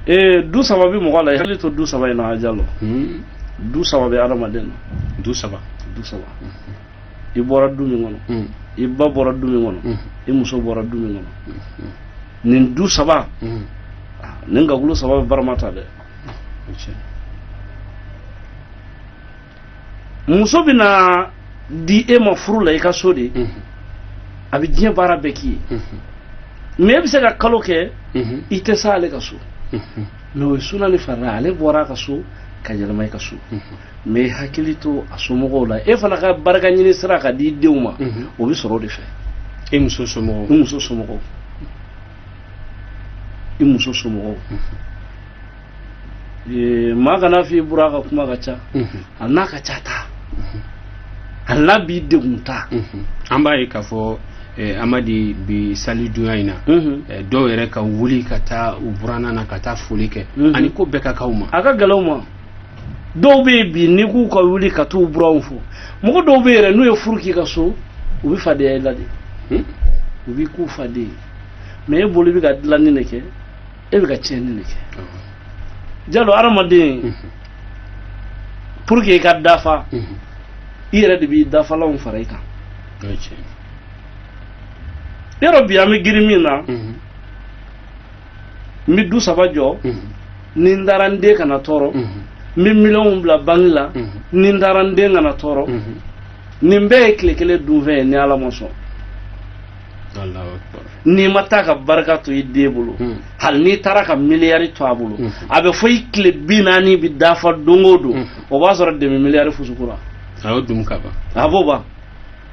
ee du saba bɛ mɔgɔ la i hakili to du saba in na a jalo hmm. du saba bɛ adamaden na du saba du saba i bɔra du min kɔnɔ hmm. i ba bɔra du min kɔnɔ hmm. i muso bɔra du min kɔnɔ nin du saba ah, nin gakulu saba bɛ barama ta dɛ muso bɛna di e ma furu la i ka so de a bɛ diɲɛ baara bɛɛ k'i ye mais e bɛ se ka kalo kɛ i tɛ se ale ka so mais o ye suna ni farila ale bɔra a ka so ka yɛlɛma i ka so mais hakili to a somɔgɔw la e fana ka barika ɲini sira ka di denw ma o bɛ sɔrɔ o de fɛ e muso somɔgɔw e muso somɔgɔw i muso somɔgɔw maa kana f'i buran ka kuma ka ca hali n'a ka ca taa hali n'a b'i degun taa an b'a ye k'a fɔ Eh, amadi bi sali dunya in na mhm. eh, dɔw yɛrɛ ka wuli ka taa u buranna na ka taa foli kɛ mhm. a ni ko bɛɛ ka kan u ma a ka gɛlɛn u ma dɔw bɛ yen bi n'i k'u ka wuli ka t'u buranw fo mɔgɔ dɔw bɛ yɛrɛ n'u ye furu k'i ka so u bɛ fadenya i la de hmm? u b'i k'u faden mais e bolo i bɛ ka dilanni de kɛ e bɛ ka tiɲɛni de kɛ jalo hadamaden pour que i ka dafa i yɛrɛ de b'i dafalanw fara i kan yɔrɔ bi an bɛ girin min na n bɛ du saba jɔ ni n taara n den kana tɔɔrɔ n bɛ miliyɔnw bila banki la ni n taara n den kana tɔɔrɔ nin bɛɛ ye tile kelen dunfɛn ye ni ala ma sɔn n'i ma taa ka barika to i den bolo hmm. hali n'i taara ka miliyari to a bolo hmm. a bɛ fɔ i tile bi naani bɛ dafa don o don hmm. o b'a sɔrɔ demi miliyari fusukura a y'o dun ka ban a b'o ban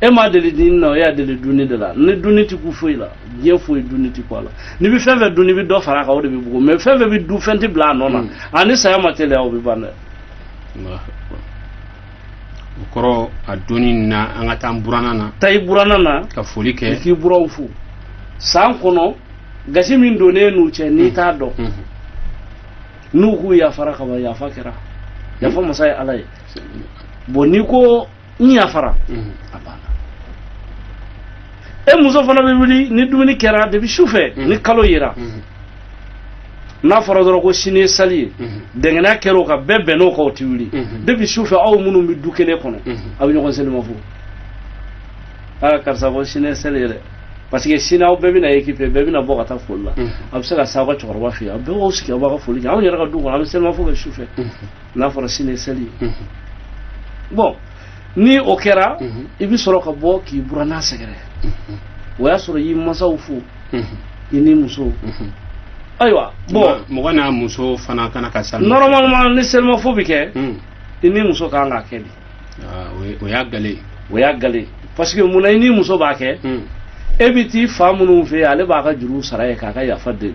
e m'a deli ɲinini na e y'a deli dunni de la ni dunni ti kun foyi la diɲɛ foyi dunni ti kun a la n'i bɛ fɛn fɛn dun n'i bɛ dɔ fara a kan o de bɛ bugun mais fɛn fɛn bɛ dun fɛn tɛ bila a nɔ na a ni saya ma teliya o bɛ ban dɛ o kɔrɔ a don in na an ka taa n buranna na taa i buranna na ka foli kɛ k'i buranw fo san kɔnɔ gasi min donnen n'u cɛ n'i t'a dɔn n'u k'u yafara ka ban yafa kɛra yafa masa ye ala ye bon n'i ko n yafara a banna e muso fana bɛ wuli ni dumuni kɛra depuis su fɛ ni kalo yera n'a fɔra dɔrɔn ko sini ye sali ye dɛngɛnɛya kɛra o kan bɛɛ bɛnn'o kan o tɛ wuli depuis su fɛ aw minnu bɛ du kelen kɔnɔ aw bɛ ɲɔgɔn selima fo aa karisa ko sini ye sali ye dɛ parce que sini aw bɛɛ bɛna ekipe bɛɛ bɛna bɔ ka taa foli la a bɛ se ka s'aw ka cɛkɔrɔba fɛ yen aw bɛɛ b'aw sigi aw b'a ka foli kɛ anw yɛrɛ ka du kɔnɔ an bɛ selima fo kɛ su fɛ n'a fɔra sini ye sali ye bon ni o kɛra i bɛ sɔrɔ ka bɔ k'i buranna sɛgɛrɛ o y'a sɔrɔ i y'i mansaw fo i n'i muso ayiwa bon mɔgɔ n'a muso fana kana ka sa normalement ni selimafo bɛ kɛ i n'i muso kan k'a kɛ de o y'a gale o y'a gale parce que munna i n'i muso b'a kɛ e bɛ t'i fa minnu fɛ yen ale b'a ka juru sara ye k'a ka yafa deli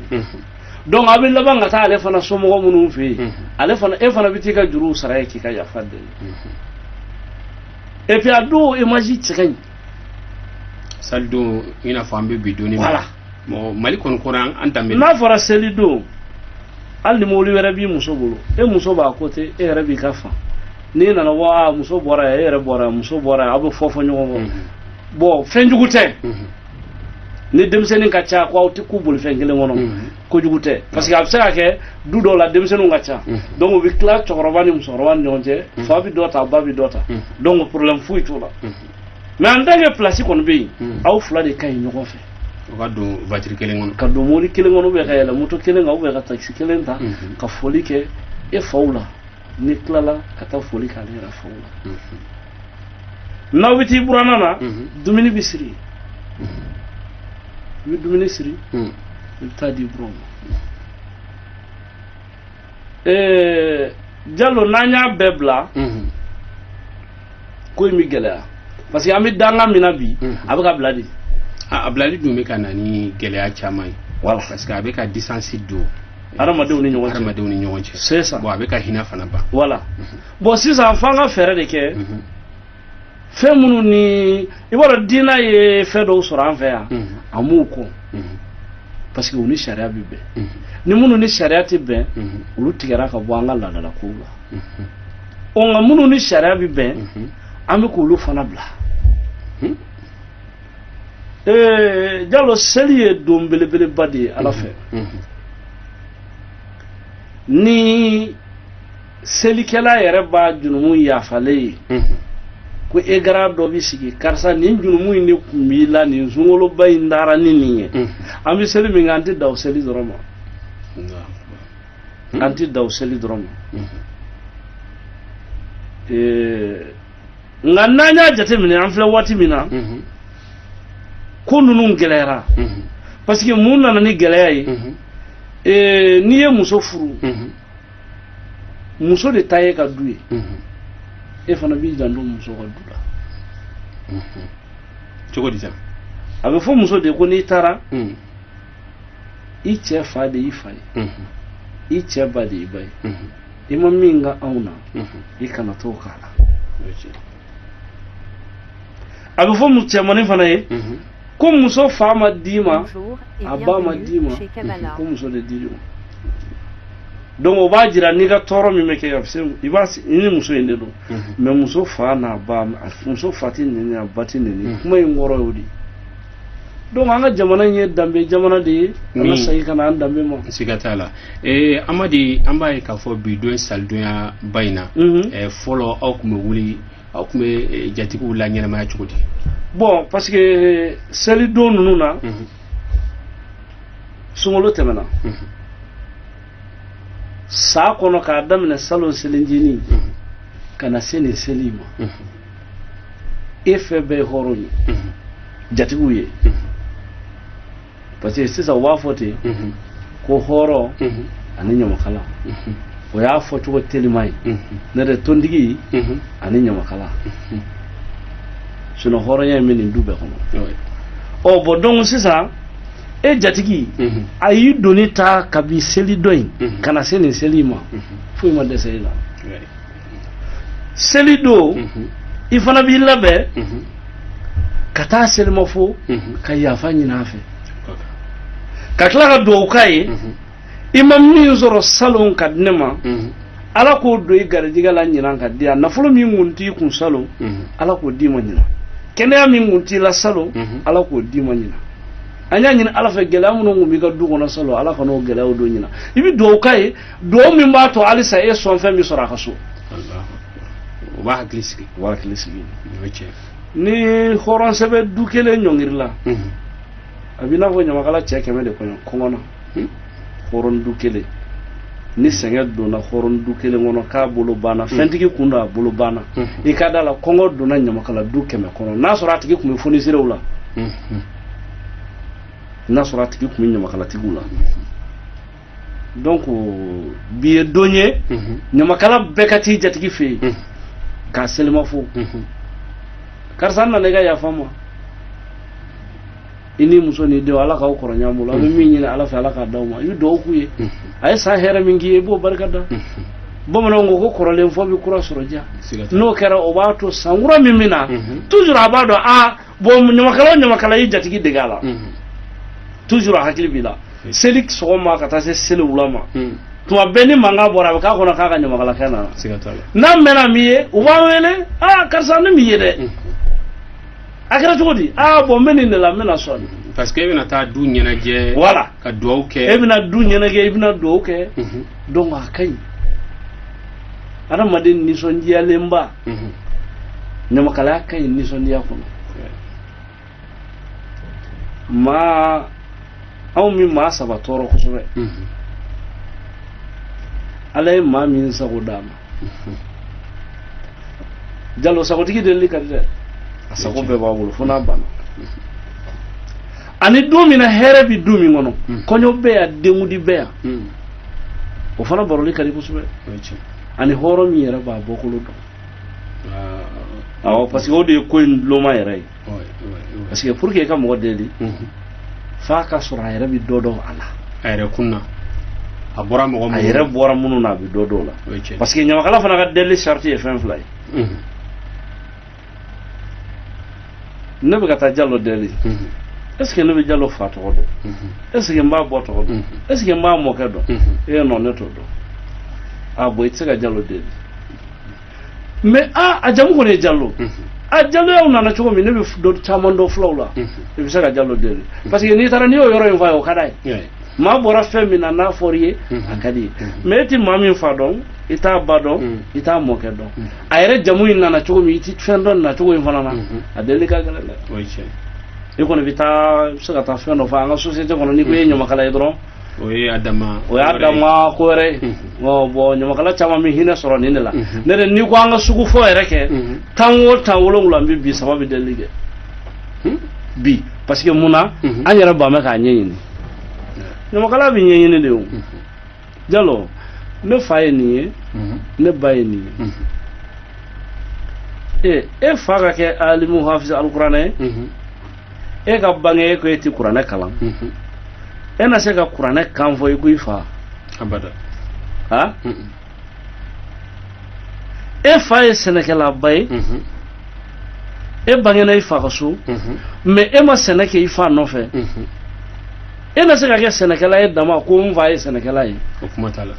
donc a bɛ laban ka taa ale fana somɔgɔ minnu fɛ yen ale fana e fana bɛ t'i ka juru sara ye k'i ka yafa deli et puis a don image cɛ ka ɲi salidon i n'a fɔ an bɛ bi don in voilà bon mali kɔni kɔnɔ an danbe n'a fɔra selidon hali ni mobili wɛrɛ b'i muso bolo e muso b'a côté e yɛrɛ b'i ka fan n'i nana wa muso bɔra yan e yɛrɛ bɔra yan muso bɔra yan aw bɛ fofo ɲɔgɔn kɔ bon fɛn jugu tɛ ni denmisɛnnin ka ca ko aw tɛ kun bolifɛn kelen kɔnɔ ko jugu tɛ parce que a bɛ se ka kɛ du dɔw la denmisɛnninw ka ca donc u bɛ tila cɛkɔrɔba ni musokɔrɔba ni ɲɔgɔn cɛ fa bɛ dɔ ta ba bɛ dɔ ta donc problème foyi t'o la mais en tant que place kɔni bɛ yen aw fila de ka ɲi ɲɔgɔn fɛ o ka don voiture kelen kɔnɔ ka don mobili kelen kɔnɔ ou bien ka yɛlɛ moto kelen kan ou bien ka taxi kelen ta ka foli kɛ e faw la n'i tilala ka taa foli k'ale yɛrɛ faw la n'aw bɛ t'i buranna na dumuni bɛ siri i bɛ dumuni siri i bɛ t'a di buranw ma jalo n'an y'a bɛɛ bila ko in bɛ gɛlɛya parce que an bɛ danga min na bi a bɛ ka bila de a bilali dun bɛ ka na ni gɛlɛya caman ye voilà parce que a bɛ ka distance don adamadenw ni ɲɔgɔn cɛ adamadenw ni ɲɔgɔn cɛ c'est ça bon a bɛ ka hinɛ fana ban voilà bon sisan f'an ka fɛɛrɛ de kɛ fɛn minnu ni i b'a dɔn diinɛ ye fɛn dɔw sɔrɔ an fɛ yan a m'u kɔn parce que u ni sariya bɛ bɛn ni minnu ni sariya tɛ bɛn olu tigɛra ka bɔ an ka laadalakow la ɔ nka minnu ni sariya bɛ bɛn an bɛ k'olu fana bila ee jalo seli ye don belebeleba de ye ala fɛ ni selikɛla yɛrɛ b'a junumu yafalen ye ko écran dɔ bi sigi karisa nin junumu in de kun b'i la nin sunkaloba in taara ni nin ye an bɛ seli min kɛ an tɛ dan o seli dɔrɔn ma an tɛ dan o seli dɔrɔn ma nka n'an y'a jateminɛ an filɛ waati min na mhm. ko ninnu gɛlɛyara mhm. parce que mun nana ni gɛlɛya ye mhm. eh, n'i ye muso furu muso de ta y'i ka du ye e fana b'i janto muso ka du la cogo di sa a bɛ fɔ muso de ko n'i taara i cɛ fa de y'i fa ye i cɛ ba de y'i ba ye i ma min k'anw na i kana t'o k'a la a bɛ fɔ cɛmani fana ye ko muso fa ma d'i ma a ba ma d'i ma ko muso de d'i ma donc o b'a jira n'i ka tɔɔrɔ min bɛ kɛ i b'a i ni muso in de don mais muso fa n'a ba muso fa tɛ nɛni a ba tɛ nɛni kuma in kɔrɔ y'o de ye donc an ka jamana in ye danbe jamana de ye an ka segin ka na an danbe ma siga t'a la ee amadi an b'a ye k'a fɔ bi don salidonya ba in na mhm. eh, fɔlɔ aw kun bɛ wuli aw kun bɛ eh, jatigiw la ɲɛnamaya cogo di bon parce que selidon ninnu na mhm. sunkalo tɛmɛna mhm. san kɔnɔ k'a daminɛ salon selinjini ka na se nin seli ma e fɛn bɛɛ ye hɔrɔn ye jatigiw ye parce que sisan u b'a fɔ ten ko hɔrɔn ani ɲamakala o y'a fɔ cogo telima ye n'o tɛ tontigi ani ɲamakala sinon hɔrɔnya in bɛ nin du bɛɛ kɔnɔ ɔ bon donc sisan e jatigi a y'i doni ta kabi seli dɔ in ka na se nin seli in ma foyi ma dɛsɛ e la seli don mhm. i fana b'i labɛn mhm. ka taa selima fo mhm. ka yafa ɲini a fɛ ka tila ka dugawu k'a ye i ma min sɔrɔ salon ka di ne ma ala k'o don i garijɛgɛ la ɲinan ka di yan nafolo min kun t'i kun salon ala k'o d'i ma ɲinan kɛnɛya min kun t'i la salon ala k'o d'i ma ɲinan an y'a ɲini ala fɛ gɛlɛya minnu kun b'i ka du kɔnɔ salon ala kan'o gɛlɛyaw don ɲinan i bɛ dugawu k'a ye dugawu min b'a to halisa e sɔn fɛn min sɔrɔ a ka so o b'a hakili sigi o b'a hakili sigi ni hɔrɔn sɛbɛ du kelen ɲɔngirila a b'i n'a fɔ ɲamakala cɛ kɛmɛ de kɔnɔ kɔngɔ na hɔrɔn du kelen ni sɛgɛn donna hɔrɔn du kelen kɔnɔ k'a bolo banna hmm. fɛntigi kun don a bolo banna hmm. i ka da la kɔngɔ donna ɲamakala du kɛmɛ kɔnɔ n'a sɔrɔ a tigi kun bɛ foniserew la hmm. n'a sɔrɔ a tigi kun bɛ ɲamakalatigiw la donc bi ye don ye ɲamakala bɛɛ ka t'i jatigi fɛ yen k'a selima fo karisa n nana i ka yafa ma i ni muso ni denw ala k'aw kɔrɔ ɲɔgɔn bolo a bɛ min ɲini ala fɛ ala k'a d'aw ma i bɛ dugawu k'u ye a ye san hɛrɛ min k'i ye i b'o barika da bamananw ko ko kɔrɔlen fɔ bɛ kura sɔrɔ diya n'o kɛra o b'a to san kura min bɛ na toujours a b'a dɔn aa bon ɲamakala o ɲamakala y'i jatigi dege a la toujours a hakili b'i la seli sɔgɔma ka taa se seli wula ma tuma bɛɛ ni mankan bɔra a bɛ k'a kɔnɔ k'a ka ɲamakalakɛ nana n'a mɛnna m'i ye u b'a wele aa karisa ne m'i ye dɛ a kɛra cogo di aa bon n bɛ nin de la n bɛna sɔn parce que e bɛna taa du ɲɛnajɛ voilà ka dugawu kɛ e bɛna du ɲɛnajɛ i bɛna dugawu kɛ donc a ka ɲi adamaden nisɔndiyalenba mhm. ɲamakalaya ka ɲi nisɔndiya kɔnɔ maa anw bi maa saba tɔɔrɔ kosɛbɛ mhm. ala ye maa min sago d'a ma mhm. jalo sagotigi delili ka di dɛ a sago bɛɛ b'a bolo fo n'a banna ani du min na hɛrɛ bɛ du min kɔnɔ kɔɲɔ bɛ yan denkundi bɛ yan o fana baroli ka di kosɛbɛ ani hɔrɔn min yɛrɛ b'a bɔkolo dɔn ah, awɔ parce que o de ye ko in loma yɛrɛ ye parce que pour que i ka mɔgɔ deli mhm. f'a ka sɔrɔ a yɛrɛ bɛ dɔ dɔn a la a yɛrɛ kunna a bɔra mɔgɔ minnu a yɛrɛ bɔra minnu na a bɛ dɔ dɔn o la parce que ɲamakala fana ka deli sarati ye fɛn fila ye mhm. ne bɛ ka taa jalo deli est-ce que ne bɛ jalo fa tɔgɔ dɔn est-ce que n b'a ba tɔgɔ dɔn est-ce que n b'a mɔkɛ dɔn ee non ne t'o dɔn a bon i tɛ se ka jalo deli mais aa a jamu kɔni ye jalo a jaloyaw nana cogo min ne bɛ dɔ caman dɔn fulaw la i bɛ se ka jalo deli parce que n'i taara n'i y'o yɔrɔ in f'a ye o ka d'a ye maa bɔra fɛn min na n'a fɔra i ye a ka d'i ye mais e tɛ maa min fa dɔn i t'a ba dɔn mm. i t'a mɔkɛ dɔn mm. a yɛrɛ jamu in nana cogo min i ti fɛn dɔn a cogo in fana na mm-hmm. a deli ka gɛlɛn dɛ i kɔni bɛ taa bɛ se ka taa fɛn dɔ fɔ an ka société kɔnɔ n'i ko i ye mm-hmm. ɲamakala ye dɔrɔn o ye a dama o y'a dama ko wɛrɛ ye mm-hmm. bon ɲamakala caman bɛ hinɛ sɔrɔ nin de la ne yɛrɛ n'i ko an ka sugu fɔ yɛrɛ kɛ tan o tan wolonwula n bɛ bi saba bɛ deli kɛ hmm? bi parce que mun na an yɛrɛ ban bɛ k'a ɲɛɲini ɲamakala bɛ ɲɛɲini de o jalo ne fa ye nin ye ne ba ye nin ye ee e fa ka kɛ alimu hafiz alikuranɛ ye e ka bange e ko e ti kuranɛ kalan e na se ka kuranɛ kan fɔ i ko i fa abada ha e fa ye sɛnɛkɛlaba ye e bangena i fa ka so mais e ma sɛnɛ kɛ i fa nɔfɛ e na se ka kɛ sɛnɛkɛla ye dama ko n fa ye sɛnɛkɛla ye o kuma t'a la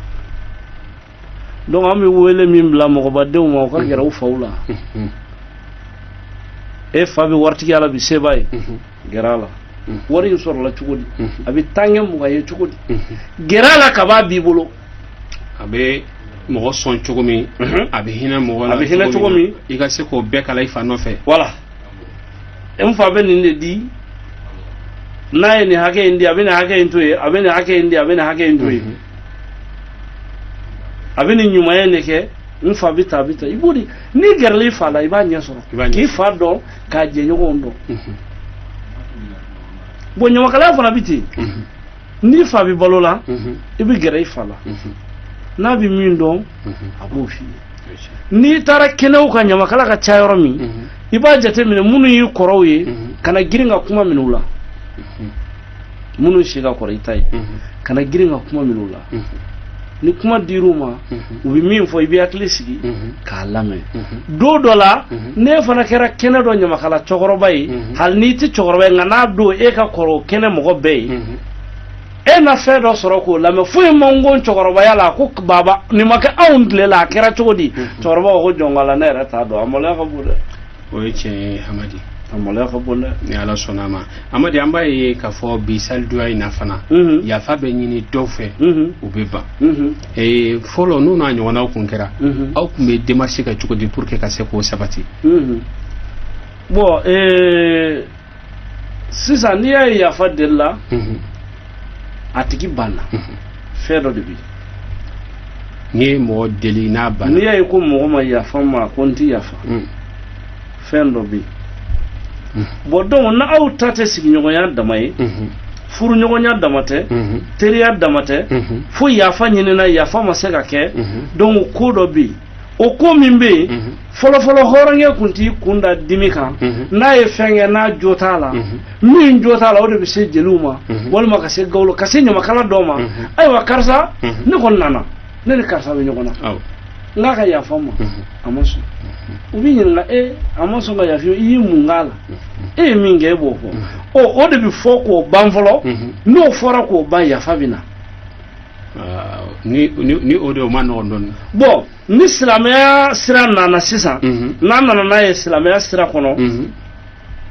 donc an bɛ wele min bila mɔgɔbadenw ma u ka gɛrɛ u faw la e fa bɛ waritigiya la bi seba ye gɛrɛ a la wari in sɔrɔla cogo di a bɛ tan kɛ mugan ye cogo di gɛrɛ a la kab'a b'i bolo a bɛ mɔgɔ sɔn cogo min a bɛ hinɛ mɔgɔ la a bɛ hinɛ cogo min i ka se k'o bɛɛ kalan i fa nɔfɛ wala n fa bɛ nin de di n'a ye nin hakɛ in di a bɛ nin hakɛ in to yen a bɛ nin hakɛ in di a bɛ nin hakɛ in to yen a bɛ nin ɲumanya de kɛ n fa bɛ tan a bɛ tan i b'o de n'i gɛrɛla i fa la i b'a ɲɛ sɔrɔ k'i fa dɔn k'a jɛɲɔgɔnw dɔn bon ɲamakalaya fana bɛ ten n'i fa bɛ balo la i bɛ gɛrɛ i fa la n'a bɛ min dɔn a b'o f'i ye n'i taara kɛnɛw kan ɲamakala ka ca yɔrɔ min i b'a jateminɛ minnu y'i kɔrɔw ye kana girin ka kuma minɛ u la minnu si ka kɔrɔ i ta ye kana girin ka kuma minɛ u la ni kuma dir'u ma u bɛ min fɔ i bɛ hakili sigi k'a lamɛn don dɔ la n'e fana kɛra kɛnɛ dɔ ɲamakala cɛkɔrɔba ye hali n'i tɛ cɛkɔrɔba ye nka n'a don e ka kɔrɔ kɛnɛ mɔgɔ bɛɛ ye e na fɛn dɔ sɔrɔ k'o lamɛn foyi man go cɛkɔrɔbaya la ko baba nin ma kɛ aw tile la a kɛra cogo di cɛkɔrɔba ko jɔn k'ala ne yɛrɛ t'a dɔn a maloya ka bon dɛ o ye tiɲɛ ye amadi a maloya ka bon dɛ ni ala sɔnna a ma amadi an b'a ye k'a fɔ bi salidonya in na fana Mhm. yafa bɛ ɲini dɔw fɛ Mhm. u bɛ ban Mhm. Eh, fɔlɔ n'o n'a ɲɔgɔnnaw kun kɛra Mhm. aw kun bɛ démarche kɛ cogo di pour que ka se k'o sabati Mhm. bon ee sisan n'i y'a ye yafa deli la a tigi banna fɛn dɔ de bɛ n'i ye mɔgɔ deli n'a banna n'i y'a ye ko mɔgɔ ma yafa n ma a ko n tɛ yafa fɛn dɔ bɛ yen bon donc n'aw ta tɛ sigiɲɔgɔnya dama ye furuɲɔgɔnya dama tɛ teriya dama tɛ fo yafa ɲinina yafa ma se ka kɛ donc ko dɔ bɛ yen o ko min bɛ yen fɔlɔfɔlɔ hɔrɔnkɛ kun t'i kun da dimi kan n'a ye fɛn kɛ n'a jo t'a la min jo t'a la o de bɛ se jeliw ma walima ka se gawulo ka se ɲamakala dɔw ma ayiwa karisa ne kɔni nana ne ni karisa bɛ ɲɔgɔn na n k'a ka yafa n ma a ma sɔn u b'i ɲininka e a ma sɔn ka yafa i ye mun k'a la e ye min kɛ e b'o fɔ o de bɛ fɔ k'o ban fɔlɔ n'o fɔra k'o ban yafa bɛ na ni ni ni o de o man nɔgɔn dɔɔni bon ni silamɛya sira nana sisan Mhm. n'a nana n'a ye silamɛya sira kɔnɔ Mhm.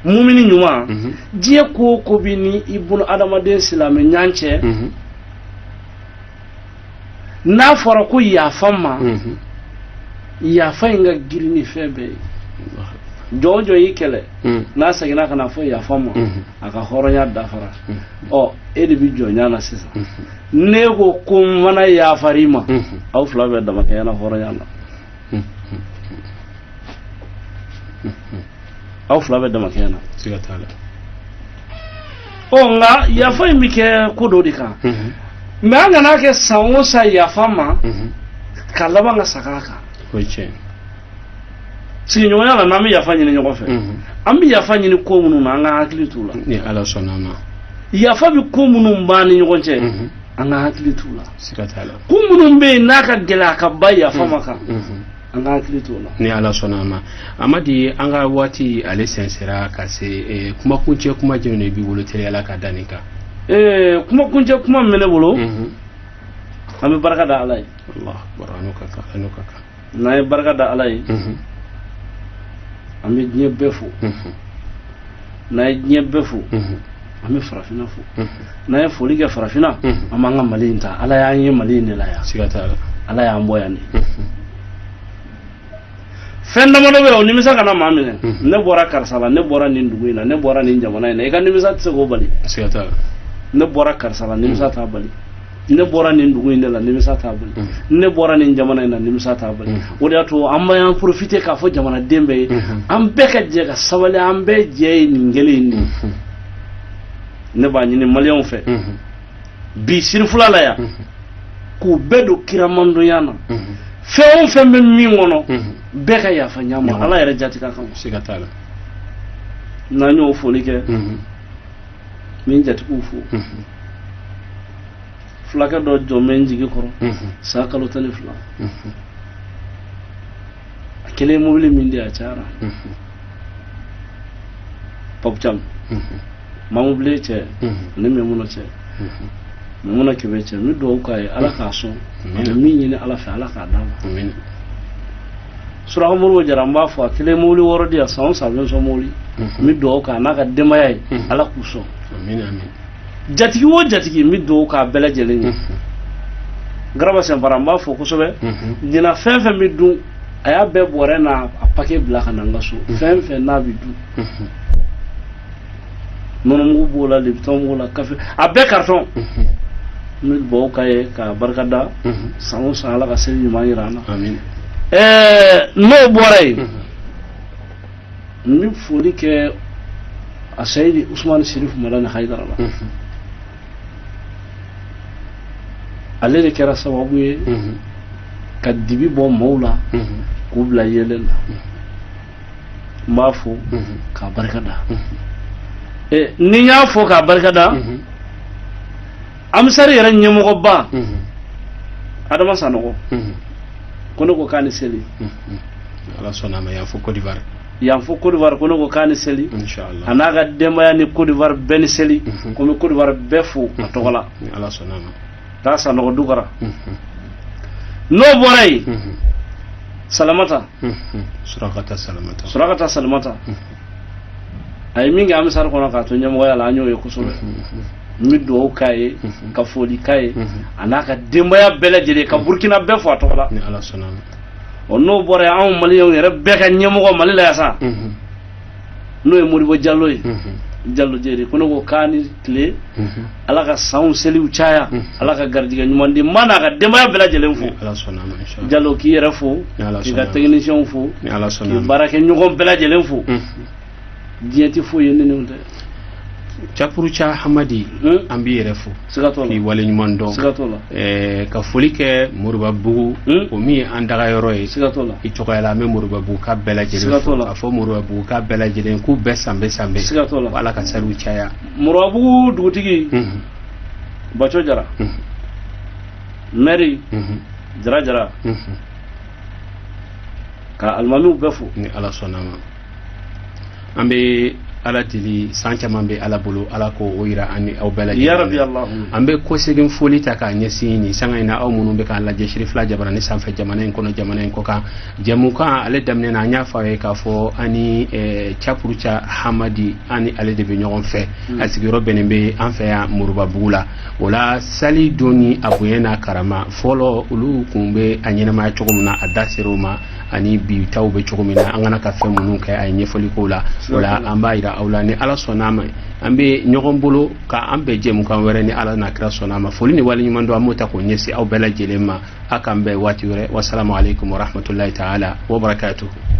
mumini ɲuman Mhm. diɲɛ ko o ko b'i ni i bolo adamaden silamɛ ɲan cɛ Mhm. n'a fɔra ko yafa n ma Mhm. yafa in ka girin ni fɛn bɛɛ ye jɔn o jɔn y'i kɛlɛ hmm. n'a seginna ka n'a fɔ yafa n ma hmm. a ka hɔrɔnya dafara hmm. ɔ e de bɛ jɔnya na sisan n'e ko ko n fana yafara i ma aw fila bɛɛ damakɛɲɛna hɔrɔnya la aw fila bɛ dama kɛɲɛ na siga t'a la ɔ nka yafa in bɛ kɛ ko dɔ de kan mhm. mɛ an kana kɛ san o san yafa ma mhm. ka laban ka seg'a kan o ye tiɲɛ sigiɲɔgɔnya la n'an bɛ yafa ɲini ɲɔgɔn fɛ mhm. an bɛ yafa ɲini ko minnu na an ka hakili t'u la ni ala sɔnna a ma yafa bɛ ko minnu b'an ni ɲɔgɔn cɛ an ka hakili t'u la siga t'a la ko minnu bɛ yen n'a ka gɛlɛn a kɛbaa yafa man kan an ka hakili to o la ni ala sɔnna a ma amadi an ka waati ale sɛnsɛra ka se eh, kumakuncɛ kuma jumɛn de b'i bolo teliya la ka da nin kan Eh, kumakuncɛ kuma min bɛ ne bolo Mhm. an bɛ barika da ala ye Allahu akbar, a n'o ka kan a n'o ka kan n'an ye barika da ala ye Mhm, an bɛ diɲɛ bɛɛ fo mhm, n'an ye diɲɛ bɛɛ fo mhm. an bɛ farafinna fo n'an ye foli kɛ farafinna an b'an ka mali in ta ala y'an ye mali in de la yan siga t'a la ala y'an bɔ yan de fɛn damadɔ bɛ yen o nimisa kana maa minɛ ne bɔra karisa la ne bɔra nin dugu in na ne bɔra nin jamana in na i ka nimisa tɛ se k'o bali siga t'a la ne bɔra karisa la nimisa t'a bali ne bɔra nin dugu in de la nimisa t'a bali mm. ne bɔra nin jamana in na nimisa t'a bali mm. o de y'a to an b'an profite k'a fɔ jamanaden bɛɛ ye mm-hmm. an bɛɛ ka jɛ ka sabali an bɛɛ jɛ ye nin kelen in de mm-hmm. ne b'a ɲini maliyɛnw fɛ mm-hmm. bi sirifula la yan k'u bɛɛ don kira mandiya na fɛn o fɛn bɛ min kɔnɔ bɛɛ ka yafa ɲɔgɔn ma ala yɛrɛ jaati kama siga t'a la n'an y'o foli kɛ n bɛ n jatigiw fo fulakɛ dɔ jɔlen bɛ n jigi kɔrɔ san kalo tan ni fila a kelen mobili min di a cayara pap cam mamubilen cɛ ani mɛmuna cɛ mɛmuna kɛmɛ cɛ n bɛ dugawu k'a ye ala k'a sɔn a bɛ min ɲini ala fɛ ala k'a d'a ma suraka mori jara n b'a fo a kelen mobili wɔɔrɔ di yan san o san a bɛ n sɔn mobili n bɛ dugawu k'a n'a ka denbaya ye ala k'u sɔn jatigi o jatigi n bɛ dugawu k'a bɛɛ lajɛlen ye garaba sinpara n b'a fo kosɛbɛ ɲinan fɛn fɛn bɛ dun a y'a bɛɛ bɔrɛ n'a a pake bila ka na n ka so fɛn fɛn n'a bɛ dun nɔnɔmugu b'o la lipitɔn b'o la kafe a bɛɛ karitɔn n bɛ dugawu k'a ye k'a barika da san o san ala ka seli ɲuman jira an na ɛɛ n'o bɔra yen n bɛ foli kɛ a sayidi usumani sirifu madani hayidara la ale de kɛra sababu ye ka dibi bɔ mɔɔw la k'u bila yeelen na n b'a fo k'a barika da ni n y'a fo k'a barika da amisari yɛrɛ ɲɛmɔgɔba adama sanɔgɔ ko ne ko k'a ni seli ala sɔnna a ma yan fo kodiwari yan fo kodiwari ko ne ko k'a ni seli inshallah a n'a ka denbaya ni kodiwari bɛɛ ni seli ko n bɛ kodiwari bɛɛ fo a tɔgɔ la ala sɔnna a ma k'a sanɔgɔ dukara n'o bɔra yen salamata surakata salamata a ye min kɛ amisari kɔnɔ k'a to ɲɛmɔgɔya la an y'o ye kosɛbɛ n bɛ dugawu k'a ye ka foli k'a ye a n'a ka denbaya bɛɛ lajɛlen ka burukina bɛɛ fo a tɔgɔ la ni ala sɔnna a ma ɔ n'o bɔra yen anw maliyɛnw yɛrɛ bɛɛ ka ɲɛmɔgɔ mali la yan sa n'o ye modibo jalo ye jalo jeri ko ne ko k'a ni tile ala ka sanw seliw caya ala ka garijɛgɛ ɲuman di ma n'a ka denbaya bɛɛ lajɛlen fo jalo k'i yɛrɛ fo k'i ka tɛkinisiyɛnw fo k'i baarakɛɲɔgɔn bɛɛ lajɛlen fo diɲɛ tɛ foyi ye ne ni tɛ capuruca hamadi an b'i yɛrɛ fo k'i wale ɲuman dɔn ka foli kɛ moribabugu hmm? o min ye an daga yɔrɔ ye i tɔgɔya la an bɛ moribabugukaw bɛɛ lajɛlen fo moribabugukaw bɛɛ lajɛlen k'u bɛɛ sanbɛ sanbɛ ala ka saliw caya moribabugu dugutigi hmm. baco jara hmm. mɛri jara jara ka alimamiw bɛɛ fo ni ala sɔnna ma an bɛ ala deli san caman bɛ ala bolo ala k'o jira an ni aw bɛɛ lajɛlen an bɛ kɔsegin foli ta k'a ɲɛsin nin sanga in na aw minnu bɛ k'an lajɛ sirifila jabaranin sanfɛ jamana in kɔnɔ jamana in kɔkan jɛmukan ale daminɛ na an y'a fɔ a ye k'a fɔ an ni capuruca hamadi an ni ale de bɛ ɲɔgɔn fɛ hmm. a sigiyɔrɔ bɛnnen bɛ an fɛ yan moribabugu la o la sali don ni a bonya n'a karama fɔlɔ olu tun bɛ a ɲɛnamaya cogo min na a da ser'o ma ani bi taw bɛ cogo min na an ka kan ka fɛn minnu kɛ a ye ɲɛfɔli k'o la o la an b'a jira aw la ni ala sɔnna ma an bɛ ɲɔgɔn bolo k'an bɛn jɛmukan wɛrɛ ni ala n'a kira sɔnna ma foli ni wale ɲuman dɔn an b'o ta k'o ɲɛsin aw bɛɛ lajɛlen ma a k'an bɛn waati wɛrɛ wasalamu aleykum warahmatulahi taala wabarakatuhu